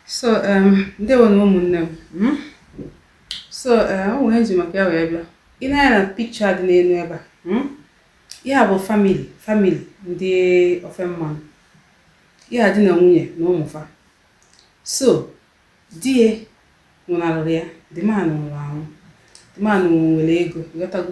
so um, ndewo nụ ụmụnne m hmm? so um, o nwere m ji maka ya wee bịa i nee anya na picture dị n'elu ebe a hmm? ya bụ family family ndị ofe mmanụ ya di na nwunye na ụmụ fa so di ya nwụnarụrụ ya the man nwụrụ anwụ the man nwere ego ghọtago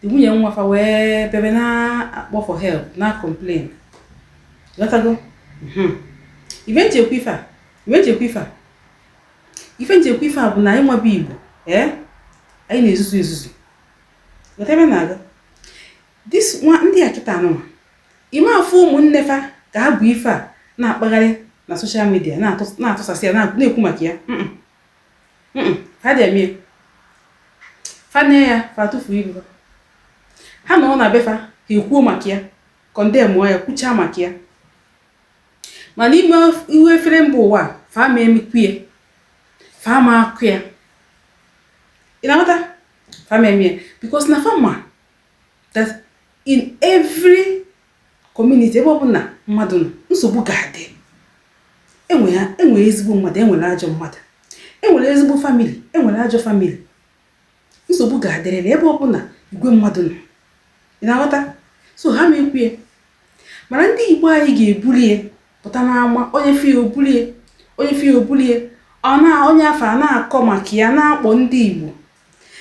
the nwunye nwa fa wee bebe na-akpọ for help na complain ghọtago mhm. ife nchekwa ife a ife nchekwa ife a ife nchekwa ife a bụ na anyị nwebe igbo ee eh? anyị na-ezuzu ezuzu ghọta ebe na-aga dis nwa ndị a kịta anụnwa ime afọ ụmụnne fa ka ha bụ ife a na-akpagharị na soshal midia na-atụsasị ya na-ekwu maka ya fa adị eme ya fa nee ya fa atụfuo iru ha anọọ na be fa ha ekwuo maka ya kọndemụọ ya kwuchaa maka ya mana iwe ife a fere mba ụwa fa ma emekwu ya fa ma akọ ya ị na-aghọta fa ma eme ya because na fa ma that in every community ebe ọbụla mmadụ nọ nsogbu ga-adị enwere ha enwere ezigbo mmadụ enwere ajọ mmadụ enwere ezigbo family enwere ajọ family nsogbu ga-adịrịrị ebe ọbụla igwe mmadụ nọ ị na-aghọta so ha ma ekwu ya mana ndị igbo anyị ga-ebuli ya pụta n'ama onye fụ ya o bulie onye fụ ya o bulie ọ na onye afụ a na-akọ maka ya na-akpọ ndị igbo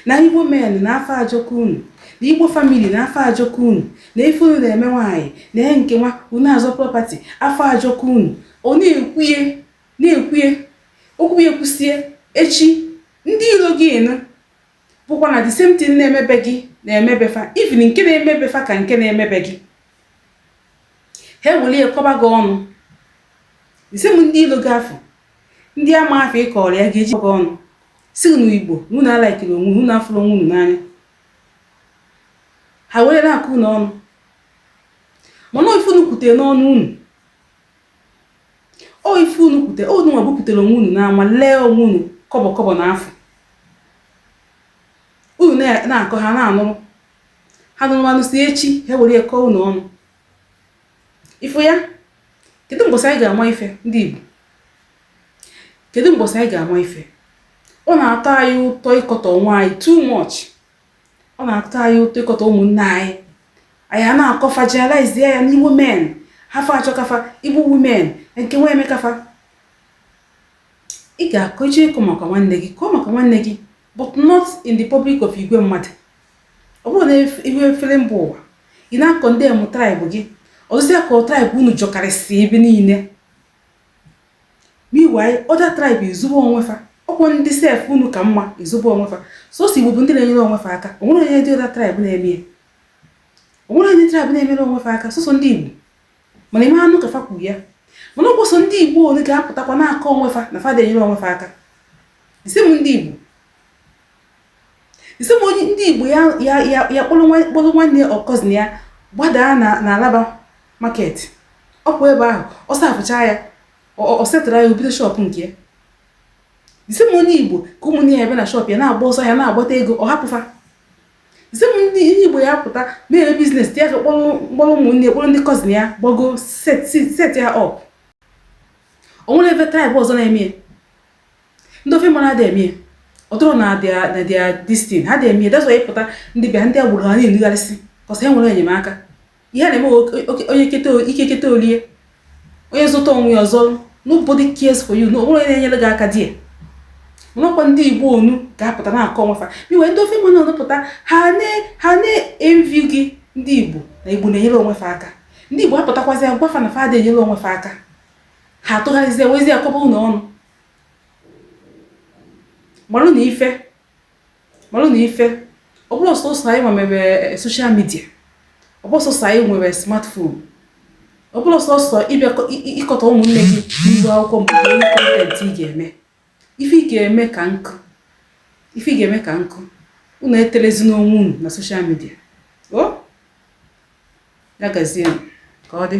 Na Igbo men na afọ ajọka unu. Na Igbo family na afọ ajọka unu. Na ife unu na-eme nwaanyị. Na ihe nke nwa unu azọ property. Afọ ajọka unu. Ọ na-ekwuye na-ekwuye okwu ya ekwusie echi ndị ilo gị ịnụ bụkwa na the same thing na-eme be gị na-eme be fa even nke na-eme be fa ka nke na-eme be gị ha ewelie kọba gị ọnụ the same ndị ilo gị afụ ndị ama afụ ị kọọrọ ya ga-eji gị ọnụ sị unu Igbo na unu alaikirọ onwe unu afụrọ onwe unu n'anya ha were na-akọ unu ọnụ mana ife unu kwutere n'ọnụ unu o ife unu kwutere unu nwa bupụtara onwe unu n'ama lee onwe unu kọbọ kọbọ na afụ unu na-akọ ha na-anụrụ ha nụrụ anụsịa echi ha were kọọ unu ọnụ ị fụ ya kedu mgbọsị anyị ga-ama ife ndị Igbo kedu mgbọsị anyị ga-ama ife ọ na-atọ anyị ụtọ ịkọtọ onwe anyị too much ọ na-atọ anyị ụtọ ịkọtọ ụmụnne anyị anyị a na-akọ fa generalize ya na Igbo men afọ ajọka fa Igbo women nke nwa emeka fa ị ga-akọ i jee kọọ maka nwanne gị kọọ maka nwanne gị but not in the public of igwe mmadụ ọ bụrọ na ihu efere mba ụwa ị na-akọndem tribe gị ọ dịzịa ka tribe unu jọkarịsị ebe niile meanwhile other tribe ezobe onwe fa ọ kwa ndị sef unu ka mma ezobe onwe fa sọsọ igbo bụ ndị na-enyere onwe fa aka o nwerọ any other tribe na-eme ya o nwerọ any tribe na-enyere onwe fa aka sọsọ ndị igbo mana ị ma anụ ka fa kwuru ya mana ọ kwa sọ ndị igbo ole ga-apụtakwa na-akọ onwe fa na fa adị enyere onwe fa aka the same ndị igbo the same onye ndị igbo ya ya ya ya kpọrọ nwa- kpọrọ nwanne ya or cousin ya gbadaa na na alaba market ọ kwa ebe ahụ ọ servecha ya ọ- ọ- ọ settle ya o bido shop nke ya the same onye igbo ka ụmụnne ya ebe na shop ya na-agba ọsọ ahịa na-agbata ego ọ hapụ fa Same ndị Igbo ya pụta mere business dị ya ka kpọrọ mkpọrọ ụmụnne kpọrọ ndị cousin ya gbago set set- set ya up o nwere ebe tribe ọzọ na-eme ya ndị ofe mmanụ adị eme ya ọ dịrọ na their na their this thing ha adị eme ya that's why ị pụta ndị be ha ndị agbụrụ ha na-enugharịsị cos ha enwerọ enyemaka ihe na-eme onye ike keta o lie onye zọta onwe ya ọ zọ nobody cares for you na o nwerọ onye na-enyere gị aka there nwekwa ndị igbo onu ga-apụta na-akọ onwe fa meanwhile ndị ofe mmanụ unu pụta ha na-envy gị ndị igbo na igbo na-enyere onwe fa aka ndị igbo apụtakwazi agwa fa na fa adị enyere onwe fa aka ha atụgharịzie wezie akọba unu ọnụ marụnụ ife malụnụ ife ọ bụrọ sọsọ anyị nwere social media ọ bụrọ sọsọ anyị nwere smartphone ọ bụrọ sọsọ ịbịa ịkọtọ ụmụnne gị n'ihu akwụkwọ mgbe onye content ị ga-eme ife ị ga-eme ka nkụ ife ị ga-eme ka nkụ unu etelezi n'onwe unu na social media o ya gazie ka ọ dị